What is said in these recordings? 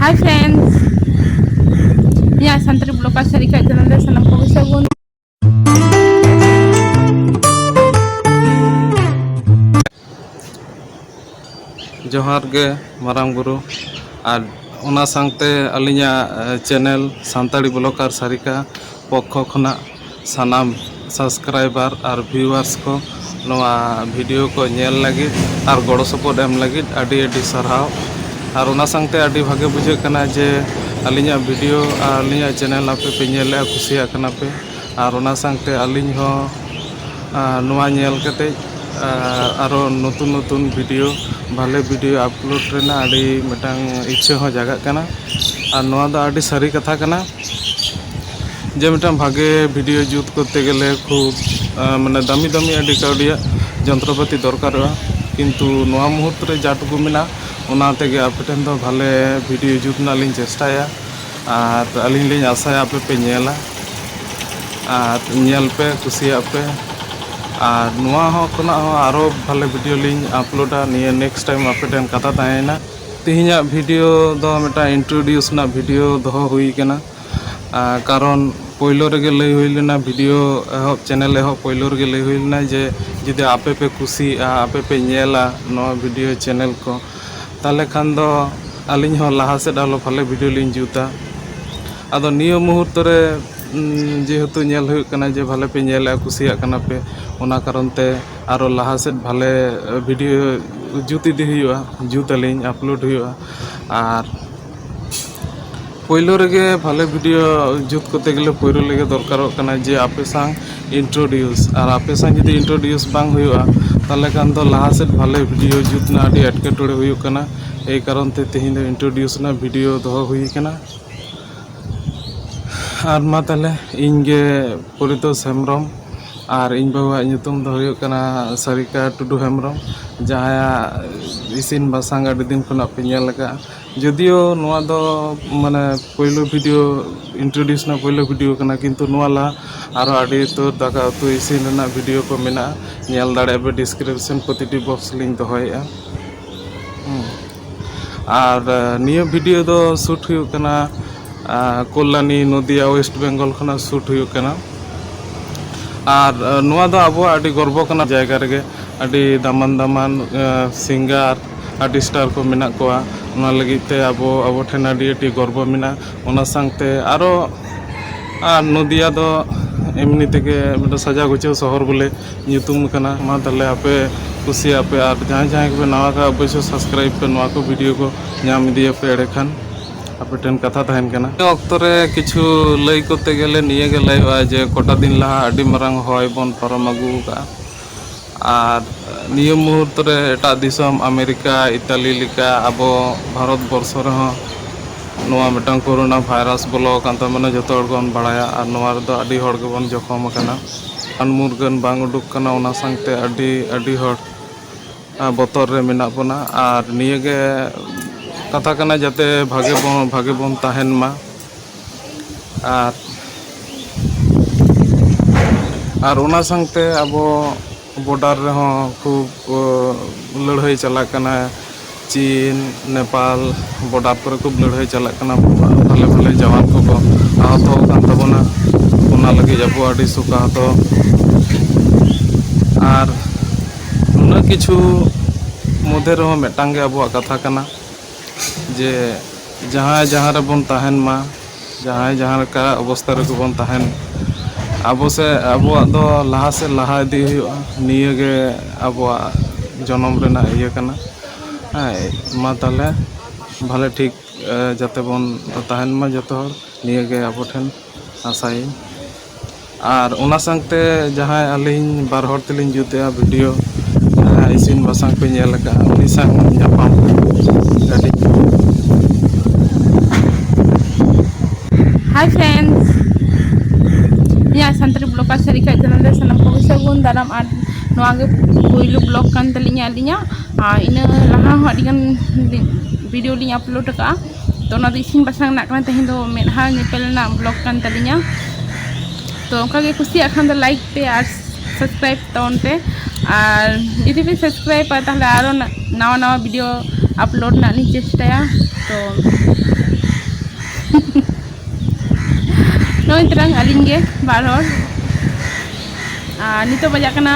ᱦᱟᱭ friends ᱤᱧᱟᱹᱜ Santali block ᱟᱨ ᱥᱟᱹᱨᱤ ᱠᱷᱟᱡ ᱪᱮᱱᱮᱞ ᱨᱮ ᱥᱟᱱᱟᱢ ᱠᱚᱜᱮ ᱥᱟᱹᱜᱩᱱ ᱡᱚᱦᱟᱨ ᱜᱮ ᱢᱟᱨᱟᱝ ᱵᱩᱨᱩ ᱟᱨ ᱚᱱᱟ ᱥᱟᱶᱛᱮ ᱟᱹᱞᱤᱧᱟᱜ ᱪᱮᱱᱮᱞ ᱥᱟᱱᱛᱟᱲᱤ ᱵᱞᱚᱠ ᱟᱨ ᱥᱟᱹᱨᱤᱠᱟ ᱯᱚᱠᱠᱷᱚ ᱠᱷᱚᱱᱟᱜ ᱥᱟᱱᱟᱢ ᱥᱟᱵᱥᱠᱨᱟᱭᱵᱟᱨ ᱟᱨ ᱵᱷᱤᱭᱩᱣᱟᱨᱥ ᱠᱚ ᱱᱚᱣᱟ ᱵᱷᱤᱰᱤᱭᱳ ᱠᱚ ᱧᱮᱞ ᱞᱟᱹᱜᱤᱫ ᱟᱨ ᱜᱚᱲᱚ ᱥᱚᱯᱚᱦᱚᱫ ᱮᱢ ᱞᱟᱹᱜᱤᱫ ᱟᱹᱰᱤ ᱟᱹᱰᱤ ᱥᱟᱨᱦᱟᱣ ᱟᱨ ᱚᱱᱟ ᱥᱟᱶᱛᱮ ᱟᱹᱰᱤ ᱵᱷᱟᱹᱜᱤ ᱵᱩᱡᱷᱟᱹᱜ ᱠᱟᱱᱟ ᱡᱮ ᱟᱹᱞᱤᱧᱟᱜ ᱵᱷᱤᱰᱤᱭᱳ ᱟᱨ ᱟᱹᱞᱤᱧᱟᱜ ᱪᱮᱱᱮᱞ ᱟᱯᱮ ᱯᱮ ᱧᱮᱞᱮᱫᱼᱟ ᱠᱩᱥᱤᱭᱟᱜ ᱠᱟᱱᱟ ᱯᱮ ᱟᱨ ᱚᱱᱟ ᱥᱟᱶᱛᱮ ᱟᱹᱞᱤᱧ ᱦᱚᱸ ᱱᱚᱣᱟ ᱧᱮᱞ ᱠᱟᱛᱮᱫ ᱟᱨᱚ ᱱᱚᱛᱩᱱ ᱱᱚᱛᱩᱱ ᱵᱷᱤᱰᱤᱭᱳ ᱵᱷᱟᱞᱮ ᱵᱷᱤᱰᱤᱭᱳ ᱟᱯᱞᱳᱰ ᱨᱮᱱᱟᱜ ᱟᱹᱰᱤ ᱢᱤᱫᱴᱟᱝ ᱤᱪᱪᱷᱟᱹ ᱦᱚᱸ ᱡᱟᱜᱟᱜ ᱠᱟᱱᱟ ᱟᱨ ᱱᱚᱣᱟ ᱫᱚ ᱟᱹᱰᱤ ᱥᱟᱹᱨᱤ ᱠᱟᱛᱷᱟ ᱠᱟᱱᱟ ᱡᱮ ᱢᱤᱫᱴᱟᱝ ᱵᱷᱟᱜᱮ ᱵᱷᱤᱰᱭᱳ ᱡᱩᱛ ᱠᱚᱨᱛᱮ ᱜᱮᱞᱮ ᱠᱷᱩᱵ ᱢᱟᱱᱮ ᱫᱟᱹᱢᱤ ᱫᱟᱹᱢᱤ ᱟᱹᱰᱤ ᱠᱟᱹᱣᱰᱤᱭᱟᱜ ᱡᱚᱱᱛᱨᱚ ᱯᱟᱹᱛᱤ ᱫᱚᱨᱠᱟᱨᱚᱜᱼᱟ ᱠᱤᱱᱛᱩ ᱱᱚᱣᱟ ᱢᱩᱦᱩᱨᱛᱚ ᱨᱮ ᱡᱟ ᱴᱩᱠᱩ ᱢᱮᱱᱟᱜᱼᱟ ᱚᱱᱟ ᱛᱮᱜᱮ ᱟᱯᱮ ᱴᱷᱮᱱ ᱫᱚ ᱵᱷᱟᱞᱮ ᱵᱷᱤᱰᱭᱳ ᱡᱩᱛ ᱨᱮᱱᱟᱜ ᱞᱤᱧ ᱪᱮᱥᱴᱟᱭᱟ ᱟᱨ ᱟᱹᱞᱤᱧ ᱞᱤᱧ ᱟᱥᱟᱭᱟ ᱟᱯᱮ ᱯᱮ ᱧᱮᱞᱟ ᱟᱨ ᱧᱮᱞ ᱯᱮ ᱠᱩᱥᱤᱭᱟᱜ ᱯᱮ ᱟᱨ ᱱᱚᱣᱟ ᱦᱚᱸ ᱠᱷᱚᱱᱟᱜ ᱦᱚᱸ ᱟᱨᱚ ᱵᱷᱟᱞᱮ ᱵᱷᱤᱰᱭᱳ ᱞᱤᱧ ᱟᱯᱞᱳᱰᱟ ᱱᱤᱭᱟᱹ ᱱᱮᱠᱥᱴ ᱴᱟᱭᱤᱢ ᱟᱯᱮ ᱴᱷᱮᱱ ᱠᱟᱛᱷᱟ ᱛᱟᱦᱮᱸᱭᱮᱱᱟ ᱛᱮᱦᱮᱧᱟᱜ ᱵᱷᱤᱰᱤᱭᱳ ᱫᱚ ᱢᱤᱫᱴᱟᱝ ᱤᱱᱴᱨᱳᱰᱤᱭᱩᱥ ᱨᱮᱱᱟᱜ ᱵᱷᱤᱰᱤᱭᱳ ᱫᱚᱦᱚ ᱦᱩᱭ ᱠᱟᱱᱟ ᱠᱟᱨᱚᱱ ᱯᱳᱭᱞᱳ ᱨᱮᱜᱮ ᱞᱟᱹᱭ ᱦᱩᱭ ᱞᱮᱱᱟ ᱵᱷᱤᱰᱤᱭᱳ ᱮᱦᱚᱵ ᱪᱮᱱᱮᱞ ᱮᱦᱚᱵ ᱯᱳᱭᱞᱳ ᱨᱮᱜᱮ ᱞᱟᱹᱭ ᱦᱩᱭ ᱞᱮᱱᱟ ᱡᱮ ᱡᱩᱫᱤ ᱟᱯᱮ ᱯᱮ ᱠᱩᱥᱤᱭᱟᱜᱼᱟ ᱟᱯᱮ ᱯᱮ ᱧᱮᱞᱟ ᱱᱚᱣᱟ ᱵᱷᱤᱰᱤᱭᱳ ᱪᱮᱱᱮᱞ ᱠᱚ ᱛᱟᱦᱚᱞᱮ ᱠᱷᱟᱱ ᱫᱚ ᱟᱹᱞᱤᱧ ᱦᱚᱸ ᱞᱟᱦᱟ ᱥᱮᱫ ᱟᱨᱚ ᱵᱷᱟᱞᱮ ᱵᱷᱤᱰᱤᱭᱳ ᱞᱤᱧ ᱡᱩᱛᱟ ᱟᱫᱚ ᱱᱤᱭᱟᱹ ᱢᱩᱦᱩᱨᱛᱚ ᱨᱮ ᱡᱮᱦᱮᱛᱩ ᱧᱮᱞ ᱦᱩᱭᱩᱜ ᱠᱟᱱᱟ ᱡᱮ ᱵᱷᱟᱞᱮ ᱯᱮ ᱧᱮᱞᱮᱫᱼᱟ ᱠᱩᱥᱤᱭᱟᱜ ᱠᱟᱱᱟ ᱯᱮ ᱚᱱᱟ ᱠᱟᱨᱚᱱ ᱛᱮ ᱟᱨᱚ ᱞᱟᱦᱟ ᱥᱮᱫ ᱵᱷᱟᱞᱮ ᱵᱷᱤᱰᱤᱭᱳ ᱡᱩᱛ ᱤᱫᱤ ᱦᱩᱭᱩᱜᱼᱟ ᱡᱩᱛ ᱟᱹᱞᱤᱧ ᱟᱯᱞᱳᱰ ᱦᱩᱭᱩᱜᱼᱟ ᱟᱨ ᱯᱳᱭᱞᱳ ᱨᱮᱜᱮ ᱵᱷᱟᱞᱮ ᱵᱷᱤᱰᱤᱭᱳ ᱡᱩᱛ ᱠᱚᱨᱛᱮ ᱜᱮᱞᱮ ᱯᱳᱭᱞᱳ ᱨᱮᱜᱮ ᱫᱚᱨᱠᱟᱨᱚᱜ ᱠᱟᱱᱟ ᱡᱮ ᱟᱯᱮ ᱥᱟᱶ ᱤᱱᱴᱨᱳᱰᱤᱭᱩᱥ ᱟᱨ ᱟᱯᱮ ᱥᱟᱶ ᱡᱩᱫᱤ ᱤᱱᱴᱨᱳᱰᱤᱭᱩᱥ ᱵᱟᱝ ᱦᱩᱭᱩᱜᱼᱟ ᱛᱟᱦᱚᱞᱮ ᱠᱷᱟᱱ ᱫᱚ ᱞᱟᱦᱟ ᱥᱮᱫ ᱵᱷᱟᱞᱮ ᱵᱷᱤᱰᱤᱭᱳ ᱡᱩᱛ ᱨᱮᱱᱟᱜ ᱟᱹᱰᱤ ᱮᱴᱠᱮᱴᱚᱬᱮ ᱦᱩᱭᱩᱜ ᱠᱟᱱᱟ ᱮᱭ ᱠᱟᱨᱚᱱ ᱛᱮ ᱛᱮᱦᱮᱧ ᱫᱚ ᱤᱱᱴᱨᱳᱰᱤᱭᱩᱥ ᱨᱮᱱᱟᱜ ᱵᱷᱤᱰᱤᱭᱳ ᱫᱚᱦᱚ ᱦᱩᱭ ᱠᱟᱱᱟ ᱟᱨ ᱢᱟ ᱛᱟᱦᱚᱞᱮ ᱤᱧ ᱜᱮ ᱯᱚᱨᱤᱛᱳᱥ ᱦᱮᱢᱵᱨᱚᱢ ᱟᱨ ᱤᱧ ᱵᱟᱹᱦᱩᱣᱟᱜ ᱧᱩᱛᱩᱢ ᱫᱚ ᱦᱩᱭᱩᱜ ᱠᱟᱱᱟ ᱥᱟᱨᱤᱠᱟ ᱴᱩᱰᱩ ᱦᱮᱢᱵᱨᱚᱢ ᱡᱟᱦᱟᱸᱭᱟᱜ ᱤᱥᱤᱱ ᱵᱟᱥᱟᱝ ᱟᱹᱰᱤ ᱫᱤᱱ ᱠᱷᱚᱱᱟᱜ ᱯᱮ ᱧᱮᱞ ᱟᱠᱟᱫᱼᱟ ᱡᱳᱫᱤᱭᱳ ᱱᱚᱣᱟ ᱫᱚ ᱢᱟᱱᱮ ᱯᱳᱭᱞᱳ ᱵᱷᱤᱰᱤᱭᱳ ᱤᱱᱴᱨᱳᱰᱤᱭᱩᱥ ᱨᱮᱱᱟᱜ ᱯᱳᱭᱞᱳ ᱵᱷᱤᱰᱤᱭᱳ ᱠᱟᱱᱟ ᱠᱤᱱᱛᱩ ᱱᱚᱣᱟ ᱞᱟᱦᱟ ᱟᱨᱚ ᱟᱹᱰᱤ ᱩᱛᱟᱹᱨ ᱫᱟᱠᱟ ᱩᱛᱩ ᱤᱥᱤᱱ ᱨᱮᱱᱟᱜ ᱵᱷᱤᱰᱤᱭᱳ ᱠᱚ ᱢᱮᱱᱟᱜᱼᱟ ᱧᱮᱞ ᱫᱟᱲᱮᱭᱟᱜ ᱯᱮ ᱰᱤᱥᱠᱨᱤᱯᱥᱚᱱ ᱯᱨᱚᱛᱤᱴᱤ ᱵᱚᱠᱥ ᱨᱮᱞᱤᱧ ᱫᱚᱦᱚᱭᱮᱫᱼᱟ ᱟᱨ ᱱᱤᱭᱟᱹ ᱵᱷᱤᱰᱤᱭᱳ ᱫᱚ ᱥᱩᱴ ᱦᱩᱭᱩᱜ ᱠᱟᱱᱟ ᱠᱚᱞᱞᱟᱱᱤ ᱱᱚᱫᱤᱭᱟ ᱳᱭᱮᱥᱴ ᱵᱮᱝᱜᱚᱞ ᱠᱷᱚᱱᱟᱜ ᱥᱩᱴ ᱦᱩᱭᱩᱜ ᱠᱟᱱᱟ ᱟᱨ ᱱᱚᱣᱟ ᱫᱚ ᱟᱵᱚᱣᱟᱜ ᱟᱹᱰᱤ ᱜᱚᱨᱵᱚ ᱠᱟᱱᱟ ᱡᱟᱭᱜᱟ ᱨᱮᱜᱮ ᱟᱹᱰᱤ ᱫᱟᱢᱟᱱ ᱫᱟᱢᱟᱱ ᱥᱤᱝᱜᱟᱨ ᱟᱨᱴᱤᱥᱴᱟᱨ ᱠᱚ ᱢᱮᱱᱟᱜ ᱠᱚᱣᱟ ᱚᱱᱟ ᱞᱟᱹᱜᱤᱫ ᱛᱮ ᱟᱵᱚ ᱟᱵᱚ ᱴᱷᱮᱱ ᱟᱹᱰᱤ ᱟᱹᱰᱤ ᱜᱚᱨᱵᱚ ᱢᱮᱱᱟᱜᱼᱟ ᱚᱱᱟ ᱥᱟᱶᱛᱮ ᱟᱨᱚ ᱟᱨ ᱱᱚᱫᱤᱭᱟ ᱫᱚ ᱮᱢᱱᱤ ᱛᱮᱜᱮ ᱢᱤᱫᱴᱮᱱ ᱥᱟᱡᱟᱣ ᱜᱩᱪᱷᱟᱹᱣ ᱥᱚᱦᱚᱨ ᱵᱚᱞᱮ ᱧᱩᱛᱩᱢ ᱠᱟᱱᱟ ᱢᱟ ᱛᱟᱦᱚᱞᱮ ᱟᱯᱮ ᱠᱩᱥᱤᱭᱟᱜ ᱯᱮ ᱟᱨ ᱡᱟᱦᱟᱸᱭ ᱡᱟᱦᱟᱸᱭ ᱠᱚᱯᱮ ᱱᱟᱣᱟ ᱠᱷᱟᱡ ᱚᱵᱚᱥᱥᱳᱭ ᱥᱟᱵᱥᱠᱨᱟᱭᱤᱵᱽ ᱯᱮ ᱱᱚᱣᱟ ᱠᱚ ᱵᱷᱤᱰᱤᱭᱳ ᱠᱚ ᱧᱟᱢ ᱤᱫᱤᱭᱟᱯᱮ ᱮᱸᱰᱮ ᱠᱷᱟᱱ ᱟᱯᱮ ᱴᱷᱮᱱ ᱠᱟᱛᱷᱟ ᱛᱟᱦᱮᱱ ᱠᱟᱱᱟ ᱱᱤᱭᱟᱹ ᱚᱠᱛᱚ ᱨᱮ ᱠᱤᱪᱷᱩ ᱞᱟᱹᱭ ᱠᱚᱨᱛᱮ ᱜᱮᱞᱮ ᱱᱤᱭᱟᱹ ᱜᱮ ᱞᱟᱹᱭᱚᱜᱼᱟ ᱡᱮ ᱠᱚᱴᱟ ᱫᱤᱱ ᱞᱟᱦᱟ ᱟᱹᱰᱤ ᱢᱟᱨᱟᱝ ᱦᱚᱭ ᱵᱚᱱ ᱯᱟᱨᱚᱢ ᱟᱹᱜᱩ ᱟᱠᱟᱫᱼᱟ ᱟᱨ ᱱᱤᱭᱟᱹ ᱢᱩᱦᱩᱨᱛᱚ ᱨᱮ ᱮᱴᱟᱜ ᱫᱤᱥᱚᱢ ᱟᱢᱮᱨᱤᱠᱟ ᱤᱛᱟᱞᱤ ᱞᱮᱠᱟ ᱟᱵᱚ ᱵᱷᱟᱨᱚᱛ ᱵᱚᱨᱥᱚ ᱨᱮᱦᱚᱸ ᱱᱚᱣᱟ ᱢᱤᱫᱴᱟᱝ ᱠᱳᱨᱳᱱᱟ ᱵᱷᱟᱭᱨᱟᱥ ᱵᱚᱞᱚ ᱟᱠᱟᱱ ᱛᱟᱵᱚᱱᱟ ᱡᱚᱛᱚ ᱦᱚᱲ ᱜᱮᱵᱚᱱ ᱵᱟᱲᱟᱭᱟ ᱟᱨ ᱱᱚᱣᱟ ᱨᱮᱫᱚ ᱟᱹᱰᱤ ᱦᱚᱲ ᱜᱮᱵᱚᱱ ᱡᱚᱠᱷᱚᱢ ᱟᱠᱟᱱᱟ ᱨᱟᱱ ᱢᱩᱨᱜᱟᱹᱱ ᱵᱟᱝ ᱩᱰᱩᱠ ᱠᱟᱱᱟ ᱚᱱᱟ ᱥᱟᱶᱛᱮ ᱟᱹᱰᱤ ᱟᱹᱰᱤ ᱦᱚᱲ ᱵᱚᱛᱚᱨ ᱨᱮ ᱢᱮᱱᱟᱜ ᱵᱚᱱᱟ ᱟᱨ ᱱᱤᱭᱟᱹᱜᱮ ᱠᱟᱛᱷᱟ ᱠᱟᱱᱟ ᱡᱟᱛᱮ ᱵᱷᱟᱜᱮ ᱵᱚᱱ ᱵᱷᱟᱜᱮ ᱵᱚᱱ ᱛᱟᱦᱮᱱ ᱢᱟ ᱟᱨ ᱟᱨ ᱚᱱᱟ ᱥᱟᱶᱛᱮ ᱟᱵᱚ ᱵᱚᱰᱟᱨ ᱨᱮᱦᱚᱸ ᱠᱷᱩᱵᱽ ᱞᱟᱹᱲᱦᱟᱹᱭ ᱪᱟᱞᱟᱜ ᱠᱟᱱᱟ ᱪᱤᱱ ᱱᱮᱯᱟᱞ ᱵᱚᱰᱟᱨ ᱠᱚᱨᱮ ᱠᱷᱩᱵ ᱞᱟᱹᱲᱦᱟᱹᱭ ᱪᱟᱞᱟᱜ ᱠᱟᱱᱟ ᱵᱷᱟᱞᱮ ᱵᱷᱟᱞᱮ ᱡᱟᱣᱟᱱ ᱠᱚᱠᱚ ᱟᱦᱚᱛᱚ ᱟᱠᱟᱱ ᱛᱟᱵᱚᱱᱟ ᱚᱱᱟ ᱞᱟᱹᱜᱤᱫ ᱟᱵᱚ ᱟᱹᱰᱤ ᱥᱚᱠᱟᱦᱚᱛᱚ ᱟᱨ ᱩᱱᱟᱹᱜ ᱠᱤᱪᱷᱩ ᱢᱚᱫᱽᱫᱷᱮ ᱨᱮᱦᱚᱸ ᱢᱤᱫᱴᱟᱝ ᱜᱮ ᱟᱵᱚᱣᱟᱜ ᱠᱟᱛᱷᱟ ᱠᱟᱱᱟ ᱡᱮ ᱡᱟᱦᱟᱸᱭ ᱡᱟᱦᱟᱸ ᱨᱮᱵᱚᱱ ᱛᱟᱦᱮᱱ ᱢᱟ ᱡᱟᱦᱟᱸᱭ ᱡᱟᱦᱟᱸ ᱞᱮᱠᱟ ᱚᱵᱚᱥᱛᱟ ᱨᱮᱜᱮ ᱵᱚᱱ ᱛᱟᱦᱮᱱ ᱟᱵᱚ ᱥᱮ ᱟᱵᱚᱣᱟᱜ ᱫᱚ ᱞᱟᱦᱟ ᱥᱮᱫ ᱞᱟᱦᱟ ᱤᱫᱤ ᱦᱩᱭᱩᱜᱼᱟ ᱱᱤᱭᱟᱹᱜᱮ ᱟᱵᱚᱣᱟᱜ ᱡᱚᱱᱚᱢ ᱨᱮᱱᱟᱜ ᱤᱭᱟᱹ ᱠᱟᱱᱟ ᱦᱮᱸ ᱢᱟ ᱛᱟᱦᱚᱞᱮ ᱵᱷᱟᱞᱮ ᱴᱷᱤᱠ ᱡᱟᱛᱮ ᱵᱚᱱ ᱛᱟᱦᱮᱱ ᱢᱟ ᱡᱚᱛᱚ ᱦᱚᱲ ᱱᱤᱭᱟᱹᱜᱮ ᱟᱵᱚ ᱴᱷᱮᱱ ᱟᱥᱟᱭᱟᱹᱧ ᱟᱨ ᱚᱱᱟ ᱥᱟᱶᱛᱮ ᱡᱟᱦᱟᱸᱭ ᱟᱹᱞᱤᱧ ᱵᱟᱨ ᱦᱚᱲ ᱛᱮᱞᱤᱧ ᱡᱩᱛᱮᱜᱼᱟ ᱵᱷᱤᱰᱤᱭᱳ ᱡᱟᱦᱟᱸᱭ ᱤᱥᱤᱱ ᱵᱟᱥᱟᱝ ᱠᱚ ᱧᱮᱞ ᱟᱠᱟᱫᱼᱟ ᱩᱱᱤ ᱥᱟᱶ ᱧᱟᱯᱟᱢ ᱟᱹᱰᱤ ᱦᱟᱭ ᱯᱷᱨᱮᱱᱰᱥ ᱤᱧᱟᱹᱜ ᱥᱟᱱᱛᱟᱲᱤ ᱵᱞᱚᱜ ᱟᱨ ᱥᱟᱹᱨᱤᱠᱷᱟᱡ ᱪᱮᱱᱮᱞ ᱨᱮ ᱥᱟᱱᱟᱢ ᱠᱚᱜᱮ ᱥᱟᱹᱜᱩᱱ ᱫᱟᱨᱟᱢ ᱟᱨ ᱱᱚᱣᱟ ᱜᱮ ᱯᱳᱭᱞᱳ ᱵᱞᱚᱜ ᱠᱟᱱ ᱛᱟᱹᱞᱤᱧᱟ ᱟᱹᱞᱤᱧᱟᱜ ᱟᱨ ᱤᱱᱟᱹ ᱞᱟᱦᱟ ᱦᱚᱸ ᱟᱹᱰᱤᱜᱟᱱ ᱵᱷᱤᱰᱤᱭᱳ ᱞᱤᱧ ᱟᱯᱞᱳᱰ ᱟᱠᱟᱫᱼᱟ ᱛᱚ ᱚᱱᱟ ᱫᱚ ᱤᱥᱤᱱ ᱵᱟᱥᱟᱝ ᱨᱮᱱᱟᱜ ᱠᱟᱱᱟ ᱛᱮᱦᱮᱧ ᱫᱚ ᱢᱮᱫᱦᱟ ᱧᱮᱯᱮᱞ ᱨᱮᱱᱟᱜ ᱵᱞᱚᱜ ᱠᱟᱱ ᱛᱟᱹᱞᱤᱧᱟ ᱛᱚ ᱚᱱᱠᱟ ᱜᱮ ᱠᱩᱥᱤᱭᱟᱜ ᱠᱷᱟᱱ ᱫᱚ ᱞᱟᱭᱤᱠ ᱯᱮ ᱟᱨ ᱥᱟᱵᱥᱠᱨᱟᱭᱤᱵ ᱛᱟᱵᱚᱱ ᱯᱮ ᱟᱨ ᱡᱩᱫᱤ ᱯᱮ ᱥᱟᱵᱥᱠᱨᱟᱭᱤᱵᱟ ᱛᱟᱦᱚᱞᱮ ᱟᱨᱚ ᱱᱟᱣᱟ ᱱᱟᱣᱟ ᱵᱷᱤᱰᱤᱭᱳ ᱟᱯᱞᱳᱰ ᱨᱮᱱᱟᱜ ᱞᱤᱧ ᱪᱮᱥᱴᱟᱭᱟ ᱛᱚ ᱱᱚᱜᱼᱚᱭ ᱛᱟᱨᱟᱝ ᱟᱹᱞᱤᱧ ᱜᱮ ᱵᱟᱨ ᱦᱚᱲ ᱟᱨ ᱱᱤᱛᱚᱜ ᱵᱟᱡᱟᱜ ᱠᱟᱱᱟ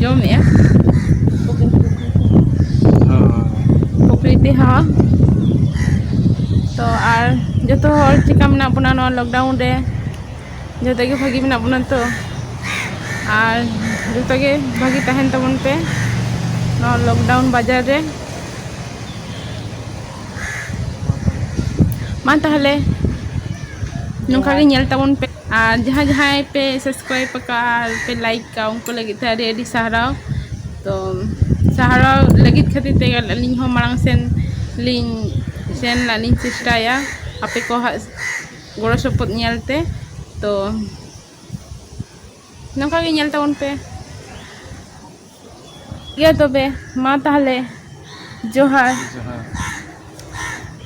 ᱡᱚᱢᱮᱜᱼᱟ ᱯᱨᱚᱠᱨᱤᱛᱤ ᱦᱚᱸ ᱛᱚ ᱟᱨ ᱡᱚᱛᱚ ᱦᱚᱲ ᱪᱮᱠᱟ ᱢᱮᱱᱟᱜ ᱵᱚᱱᱟ ᱱᱚᱣᱟ ᱞᱚᱠᱰᱟᱣᱩᱱ ᱨᱮ ᱡᱚᱛᱚ ᱜᱮ ᱵᱷᱟᱹᱜᱤ ᱢᱮᱱᱟᱜ ᱵᱚᱱᱟ ᱛᱚ ᱟᱨ ᱡᱚᱛᱚ ᱜᱮ ᱵᱷᱟᱹᱜᱤ ᱛᱟᱦᱮᱱ ᱛᱟᱵᱚᱱ ᱯᱮ ᱱᱚᱣᱟ ᱞᱚᱠᱰᱟᱣᱩᱱ ᱵᱟᱡᱟᱨ ᱨᱮ ᱢᱟ ᱛᱟᱦᱚᱞᱮ ᱱᱚᱝᱠᱟ ᱜᱮ ᱧᱮᱞ ᱛᱟᱵᱚᱱ ᱯᱮ ᱟᱨ ᱡᱟᱦᱟᱸᱭ ᱡᱟᱦᱟᱸᱭ ᱯᱮ ᱥᱟᱵᱥᱠᱨᱟᱭᱤᱵ ᱟᱠᱟᱫᱼᱟ ᱟᱨ ᱯᱮ ᱞᱟᱭᱤᱠ ᱟᱠᱟᱫᱼᱟ ᱩᱱᱠᱩ ᱞᱟᱹᱜᱤᱫ ᱛᱮ ᱟᱹᱰᱤ ᱟᱹᱰᱤ ᱥᱟᱨᱦᱟᱣ ᱛᱚ ᱥᱟᱨᱦᱟᱣ ᱞᱟᱹᱜᱤᱫ ᱠᱷᱟᱹᱛᱤᱨ ᱛᱮᱜᱮ ᱟᱹᱞᱤᱧ ᱦᱚᱸ ᱢᱟᱲᱟᱝ ᱥᱮᱱ ᱞᱤᱧ ᱥᱮᱱ ᱨᱮᱱᱟᱜ ᱞᱤᱧ ᱪᱮᱥᱴᱟᱭᱟ ᱟᱯᱮ ᱠᱚᱣᱟᱜ ᱜᱚᱲᱚ ᱥᱚᱯᱚᱦᱚᱫ ᱧᱮᱞ ᱛᱮ ᱛᱚ ᱱᱚᱝᱠᱟ ᱜᱮ ᱧᱮᱞ ᱛᱟᱵᱚᱱ ᱯᱮ ᱴᱷᱤᱠ ᱜᱮᱭᱟ ᱛᱚᱵᱮ ᱢᱟ ᱛᱟᱦᱚᱞᱮ ᱡᱚᱦᱟᱨ ᱡᱚᱦᱟᱨ